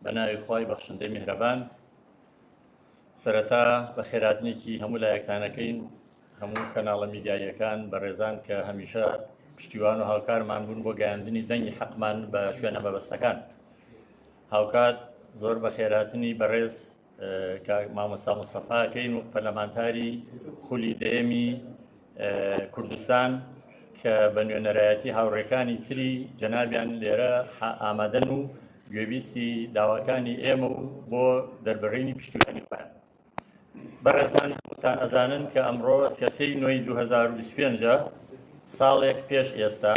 بە ناوی خی بەخشندەی میهرەبان سەرەتا بە خێراتنێکی هەموو لایەکانەکەین هەموو کەناڵە میدیاییەکان بە ڕێزان کە هەمیشە پشتیوان و هاوکارمان بوون بۆ گەیاندنی دەنگی حەقمان بە شوێنە مەبەستەکان هاوکات زۆر بە خێراتنی بەڕێز مامۆستا مستەفاکەین و پەرلەمانتاری خولی دەیەمی کوردستان کە بە نوێنەرایەتی هاوڕێکانی تری جەنابیان لێرە ئامادەن و گوێبیستی داواکانی ئێمە و بۆ دەربڕینی پشتیوانی خوێن بەڕێزان هەمووتان ئەزانن کە ئەمڕۆ کەسەی نوێی 2025 ساڵێک پێش ئێستا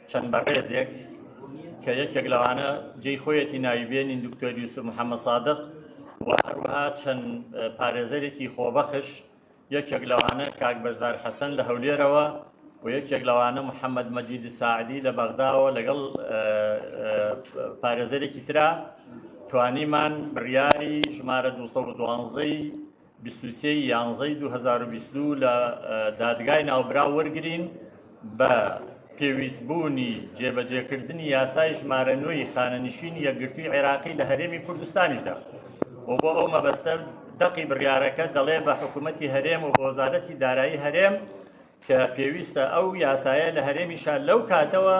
چەند بەڕێزێک کە یەکێک لەوانە جێی خۆیەتی ناوی بێنین دکتۆر یوسف محەممە سادق و هەروەها چەند پارێزەرێکی خۆبەخش یەکێک لەوانە کاک بەشدار حەسەن لە هەولێرەوە و یەکێک لەوانە محەممەد مەجید ساعدی لە بەغداوە لەگەڵ پارێزەرێکی تررا توانیمان بڕیاری ژمارە 212ی بیست و سێ ی یانزەی دوو هەزار و بیست و دوو لە دادگای ناوبراو وەرگرین بە پێویستبوونی جێبەجێکردنی یاسای ژمارە نوێی خانەنشینی یەکگرتووی عێراقی لە هەرێمی کوردستانیشدا و بۆ ئەو مەبەستە دەقی بڕیارەکە دەڵێ بە حکوومەتی هەرێم و بۆزارەتی دارایی هەرێم کە پێویستە ئەو یاسایە لە هەرێمیشا لەو کاتەوە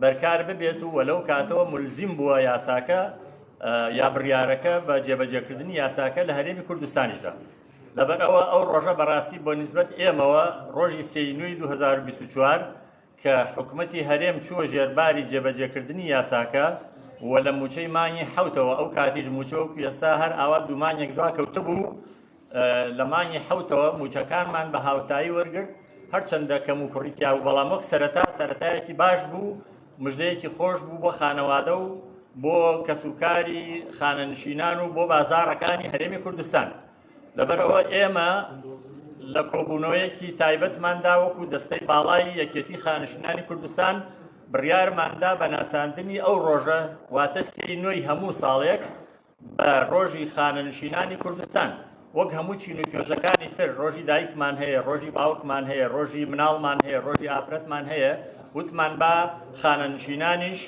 بەرکار ببێت و وەلەو کاتەوە ملزیم بووە یاساکە یا بڕیارەکە بە جێبەجێکردنی یاساکە لە هەرێمی کوردستانیشدا لەبەر ئەوە ئەو ڕۆژە بەڕاستی بۆ نسبەت ئێمەوە ڕۆژی سینوی 2024 کە حکوومەتی هەرێم چووە ژێرباری جێبەجێکردنی یاساکە و لە موچەی مانگی حوتەوە ئەو کاتیش موچەوە ئێستا هەر ئاوا دومانێک دوا کەوتبوو لە مانگی حوتەوە موچەکانمان بە هاوتایی وەرگرت هەرچەندە کەم و کوڕی تیا و بەڵام وەک سەرەتا سەتایەکی باش بوو مژدەیەکی خۆش بوو بۆ خانەوادە و بۆ کەسوکاری خانەنشینان و بۆ بازارەکانی هەرێمی کوردستان لەبەرەوە ئێمە لە کۆبوونەوەیەکی تایبەتماندا وەکو دەستەی باڵای یەکێتی خانشنانی کوردستان بڕیارماندا بە ناساندنی ئەو ڕۆژە واتە سێی نوێی هەموو ساڵێک ڕۆژی خانەنشینانی کوردستان وەک هەموو چین و توێژەکانی تر ڕۆژی دایکمان هەیە ڕۆژی باوکمان هەیە ڕۆژی مناڵمان هەیە ڕۆژی ئافرەتمان هەیە وتمان با خانەنشینانیش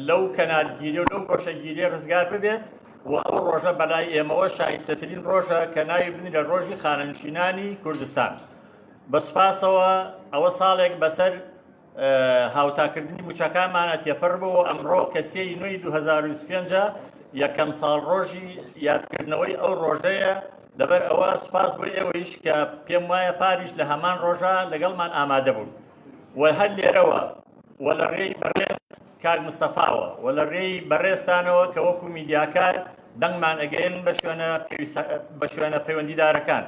لەو کەنارگیری و لەو خۆشەگیری ڕزگار ببێت و ئەو ڕۆژە بەلای ئێمەوە شایستەترین ڕۆژە کە ناوی بنی لە ڕۆژی خانەنشینانی کوردستان بە سوپاسەوە ئەوە ساڵێک بەسەر هاوتاکردنی موچەکانمانە تێپەر بۆ ئەمڕۆ کە سێ نوێی 2025 یەکەم ساڵ ڕۆژی یادکردنەوەی ئەو ڕۆژەیە لەبەر ئەوە سوپاس بۆ ئێوەیش کە پێم وایە پاریش لە هەمان ڕۆژە لەگەڵمان ئامادە بوون و هەر لێرەوە و لە ڕێی بەڕێز کاک مستەفاوە و لە ڕێی بەڕێستانەوە کە وەکو میدیاکار دەنگمان ئەگەین بە شوێنە بە شوێنە پەیوەندیدارەکان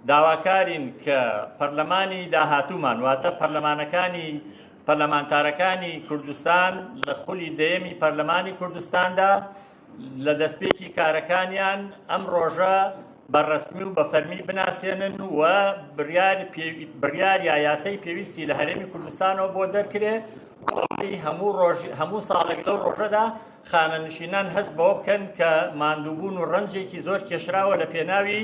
داواکارین کە پەرلەمانی داهاتوومان واتە پەرلەمانەکانی پەرلەمانتارەکانی کوردستان لە خولی دەیەمی پەرلەمانی کوردستاندا لە دەستپێکی کارەکانیان ئەم ڕۆژە بە ڕسمی و بە فەرمی بناسێنن و بڕیاریا یاسای پێویستی لە هەرێمی کوردستانەوە بۆ دەرکرێ هەموو هەموو ساڵێک لەو ڕۆژەدا خانەنشینان هەست بەوە بکەن کە ماندووبوون و ڕەنجێکی زۆر کێشراوە لە پێناوی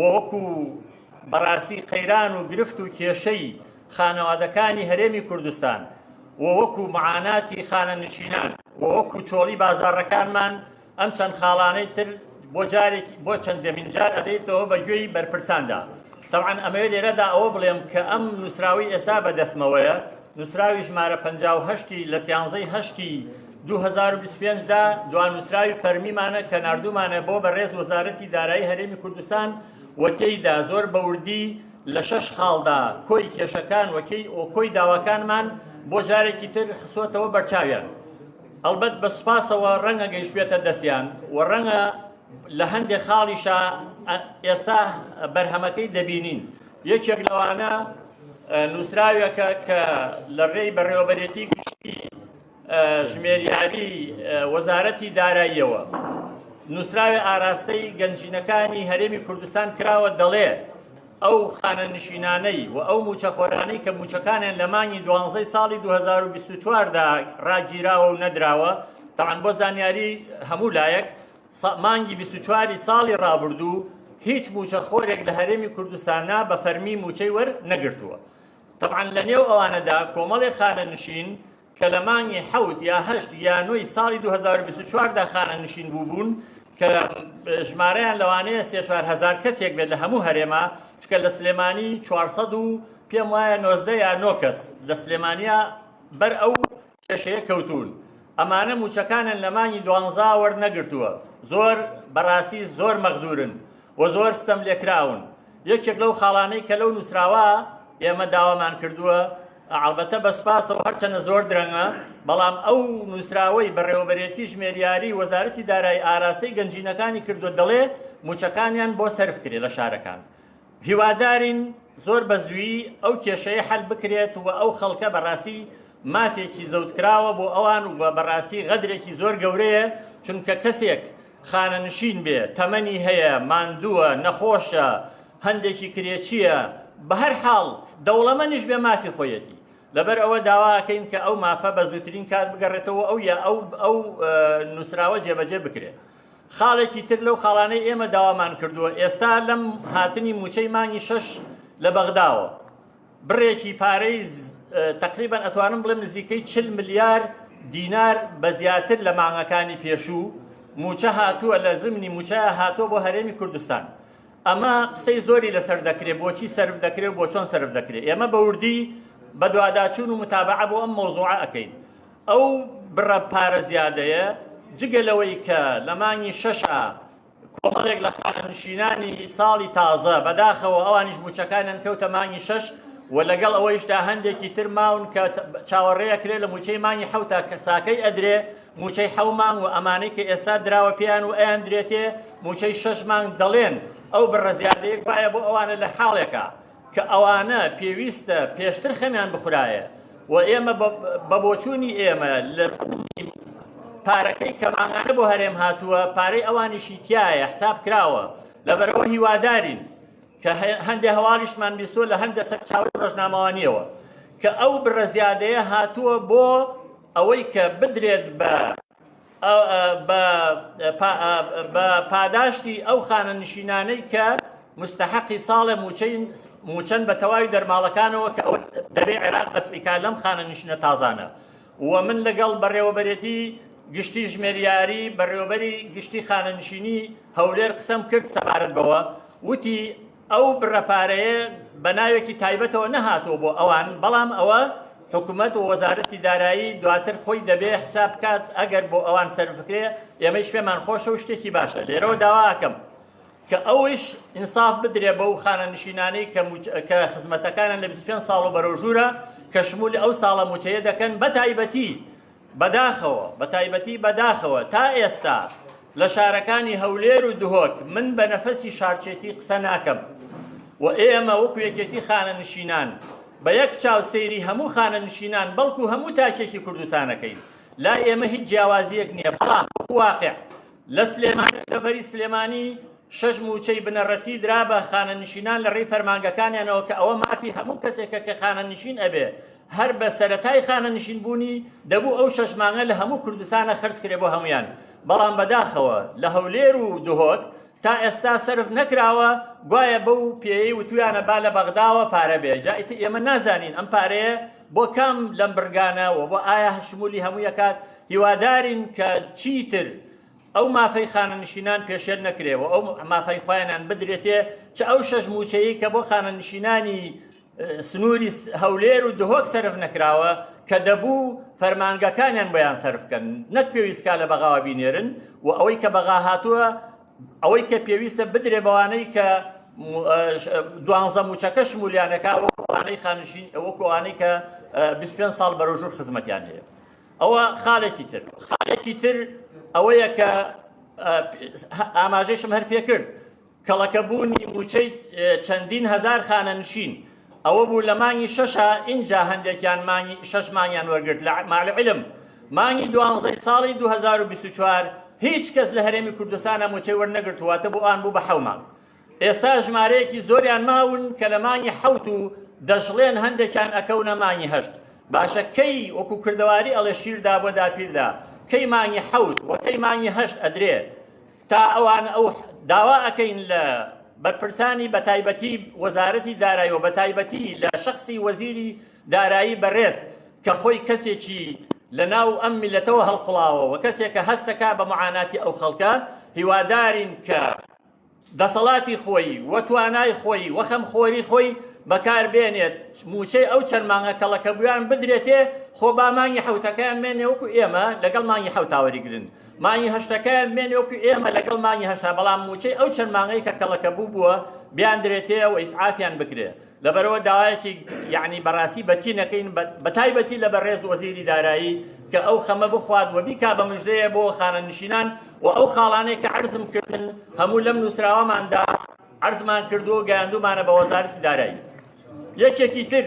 وەکو بەڕاستی قەیران و گرفت و کێشەی خانەوادەکانی هەرێمی کوردستان و وەکو معاناتی خانەنشینان و وەکو چۆڵی بازاڕەکانمان ئەم چەند خاڵانەی تر بۆ جارێک بۆ چەندەمین جار ئەدەیتەوە بە گوێی بەرپرساندا تەوان ئەمەوێت لێرەدا ئەوە بڵێم کە ئەم نووسراوی ئێستا بە دەستمەوەیە نووسراوی ژمارە 58 لە سیانزەی هەشتی دوو هەزار و بیست و پێنج دا دوا نووسراوی فەرمیمانە کە ناردوومانە بۆ بەڕێز وەزارەتی دارایی هەرێمی کوردستان و تێیدا زۆر بەوردی لە شەش خاڵدا کۆی کێشەکان وەکەی ئۆکۆی داواکانمان بۆ جارێکی تر خسوەتەوە بەرچاویان ئەلبەت بە سوپاسەوە ڕەنگە گەیش بێتە دەستیان و ڕەنگە لە هەندێک خاڵیشە ئێستا بەرهەمەکەی دەبینین یەکێک لەوانە نووسراوێکە کە لە ڕێی بەڕێوەبەرێتی گشتی ژمێریاری وەزارەتی داراییەوە نووسراوی ئاراستەی گەنجینەکانی هەرێمی کوردستان کراوە دەڵێ ئەو خانە نشینانەی و ئەو موچەخۆرانەی کە موچەکانیان لە مانگی دوانزەی ساڵی 2024دا ڕاگیراوە و نەدراوە تاان بۆ زانیاری هەموو لایەک مانگی 24 ساڵی ڕابردوو هیچ موچەخۆرێک لە هەرێمی کوردستانە بە فەرمی موچەی وەر نەگرتووە. تەبعەن لە نێو ئەوانەدا کۆمەڵێ خانەنشین کە لە مانگی حەوت یا هەشت یا نۆی ساڵی 2024 دا خانەنشین بووبوون کە ژمارەیان لەوانەیە سێ چوار هزار کەسێک بێت لە هەموو هەرێما چکە لە سلێمانی 400 و پێم وایە 90 یا 9 کەس لە سلێمانیا بەر ئەو کێشەیە کەوتوون ئەمانە موچەکانن لە مانگی دوانزا وەرنەگرتووە زۆر بەڕاستی زۆر مەغدورن و زۆر ستەم لێکراون یەکێک لەو خاڵانەی کە لەو نووسراوە ئێمە داوامان کردووە ئەڵبەتە بە سپاسەوە هەرچەنە زۆر درەنگە بەڵام ئەو نووسراوەی بەڕێوەبەرێتی ژمێریاری وەزارەتی دارایی ئاراستەی گەنجینەکانی کردو دەڵێ موچەکانیان بۆ سەرف کرێ لە شارەکان هیوادارین زۆر بە زویی ئەو کێشەیە حەل بکرێت و ئەو خەڵکە بە ڕاستی مافێکی زەوتکراوە بۆ ئەوان و بە ڕاستی غەدرێکی زۆر گەورەیە چونکە کەسێک خانەنشین بێ تەمەنی هەیە ماندووە نەخۆشە هەندێکی کرێچیە بە هەر حاڵ دەوڵەمەنیش بێ مافی خۆیەتی لەبەر ئەوە داواکەین کە ئەو مافە بە زووترین کات بگەڕێتەوە ئەو یا ئەو ئەو نووسراوە جێبەجێ بکرێت خاڵێکی تر لەو خاڵانەی ئێمە داوامان کردووە ئێستا لەم هاتنی موچەی مانگی شەش لە بەغداوە بڕێکی پارەی تقریبان ئەتوانم بڵێم نزیکەی چل ملیار دینار بە زیاتر لە مانگەکانی پێشوو موچە هاتووە لە زمنی موچە هاتووە بۆ هەرێمی کوردستان ئەمە قسەی زۆری لەسەر دەکرێت بۆچی سرف دەکرێت بۆ چۆن سرف دەکرێت ئێمە بەوردی بەدواداچون و متابعە بۆ ئەم مۆزوعە ئەەکەین ئەو بڕە پارە زیادەیە جگە لەوەی کە لە مانگی شەشا کۆمەڵێک لە خانەنشینانی ساڵی تازە بەداخەوە ئەوانیش موچەکانیان کەوتە مانگی شەش و لەگەڵ ئەوەیشدا هەندێکی تر ماون کە چاوەڕێە کرێ لە موچەی مانگی حوتا کە ساکەی ئەدرێ موچەی حەومان و ئەمانەی کە ئێستا دراوە پێیان و ئەیان درێتێ موچەی شەش مانگ دەڵێن ئەو بڕە زیادەیە گوایە بۆ ئەوانە لە حاڵێکە کە ئەوانە پێویستە پێشتر خەمیان بخورایە و ئێمە بە بۆچوونی ئێمە لە پارەکەی کەمانانە بۆ هەرێم هاتووە پارەی ئەوانیشی تایە حساب کراوە لەبەرەوە هیوادارین کە هەندێک هەواڵیشمان بیستوە لە هەندە سەر چاوی ڕۆژنامەوانیەوە کە ئەو بڕە زیادەیە هاتووە بۆ ئەوەی کە بدرێت بە بە پاداشتی ئەو خانە نشینانەی کە مستحقی ساڵە موچەن بە تەواوی دەرماڵەکانەوە کە ئەو دەبێ عێراق دەفعیکا لەم خانە نشینە تازانە و من لەگەڵ بەڕێوەبەرێتی گشتی ژمێریاری بەڕێوەبەری گشتی خانەنشینی هەولێر قسەم کرد سەبارەت بەوە وتی ئەو بڕە پارەیە بە ناوێکی تایبەتەوە نەهاتەوە بۆ ئەوان بەڵام ئەوە حکوومەت و وەزارەتی دارایی دواتر خۆی دەبێ حساب بکات ئەگەر بۆ ئەوان سەرفکرێ ئێمەش پێمان خۆشە و شتێکی باشە لێرەوە داواکەم کە ئەوش ئینساف بدرێ بەو خانە نشینانەی کە خزمەتەکانە لە 25 ساڵ و بەرەو ژوورە کە شمولی ئەو ساڵە موچەیە دەکەن بە تایبەتی بەداخەوە، بەتایبەتی بەداخەوە تا ئێستا لە شارەکانی هەولێر و دهۆک من بە نەفەسی شارچێتی قسە ناکەم و ئێمە وەکو یەکێتی خانەنشینان بە یەک چاو سەیری هەموو خانەنشینان بەڵکو هەموو تاکێکی کوردستانەکەین لای ئێمە هیچ جیاوازیەک نییە بەڵام واقع لە سلێمانی دەڤەری سلێمانی شەش مووچەی بنەڕەتی درا بە خانەنشینان لە ڕێی فەرمانگەکانیانەوە کە ئەوە مافی هەموو کەسێکە کە خانەنشین ئەبێ هەر بە سەرەتای خانەنشین بوونی دەبوو ئەو شەش مانگە لە هەموو کوردستانە خرج کرێ بۆ هەمویان بەڵام بەداخەوە لە هەولێر و دهۆک تا ئێستا سرف نەکراوە گوایە بەو پێی وتویانە با لە بەغداوە پارە بێ جا ئێمە نازانین ئەم پارەیە بۆ کام لەم بڕگانە و بۆ ئایا شمولی هەموو یەکات هیوادارین کە چیتر ئەو مافەی خانەنشینان پێشێل نەکرێ و ئەو مافەی خۆیانان بدرێتێ چ ئەو شەش موچەیە کە بۆ خانەنشینانی سنووری هەولێر و دهۆک سرف نەکراوە کە دەبوو فەرمانگەکانیان بۆیان سرفکەن نەک پێویستکە لە بەغاوە بینێرن و ئەوەی کە بەغا هاتووە ئەوەی کە پێویستە بدرێ بەوانەی کە دوانزە موچەکە شمولیانەکە ئەوانەی خانشین ئەوە کۆوانەی کە 25 ساڵ بەرەژور خزمەتیان هەیە ئەوە خالێکی تر خالێکی تر ئەوەیە کە ئاماژەشم هەر پێ کرد کەڵەکەبوونی موچەی چەندین هزار خانەنشین ئەوە بوو لە مانگی شەشا ئینجا هەندێکیان مانگی شەش مانگیان وەرگرت لە مع العلم مانگی دوانزەی ساڵی 2024 هیچ کەس لە هەرێمی کوردستانە موچەی وەرنەگرت واتە بۆ ئان بوو بە حەو مانگ ئێستا ژمارەیەکی زۆریان ماون کە لە مانگی حەوت و دەشڵێن هەندێکیان ئەکەونە مانگی هەشت باشە کەی وەکو کردەواری ئەڵێ شیردا بۆ داپیردا کەی مانگی حەوت وەکەی مانگی هەشت ئەدرێ تا ئەوان ئەو داوا ئەکەین لە بەرپرسانی بە تایبەتی وەزارەتی دارایی و بە تایبەتی لە شخصی وەزیری دارایی بەڕێز کە خۆی کەسێکی لە ناو ئەم میلەتەوە هەڵقڵاوە و کەسێکە هەستەکە بە معاناتی ئەو خەڵکە هیوادارین کە دەسەڵاتی خۆی و توانای خۆی و خەمخۆری خۆی بەکار بێنێت موچەی ئەو چەند مانگە کەڵەکەبوویان بدرێتێ خۆ با مانگی حوتەکەیان مێنێ وەکو ئێمە لەگەڵ مانگی حوتاوەری گرن مانگی هەشتەکەیان بمێنێ وەکو ئێمە لەگەڵ مانگی هەشتا بەڵام موچەی ئەو چەند مانگەی کە کەڵەکە بوو بووە بیان درێتەیە و ئیسعافیان بکرێ لەبەرەوە داوایەکی یعنی بەڕاستی بەتی نەکەین بە تایبەتی لە بەڕێز وەزیری دارایی کە ئەو خەمە بخوات وە بیکا بە مژدەیە بۆ خانەنشینان و ئەو خاڵانەی کە عرزم کردن هەموو لەم نووسراوەماندا عرزمان کردو گەیاندومانە بە وەزارتی دارایی یەکێکی تر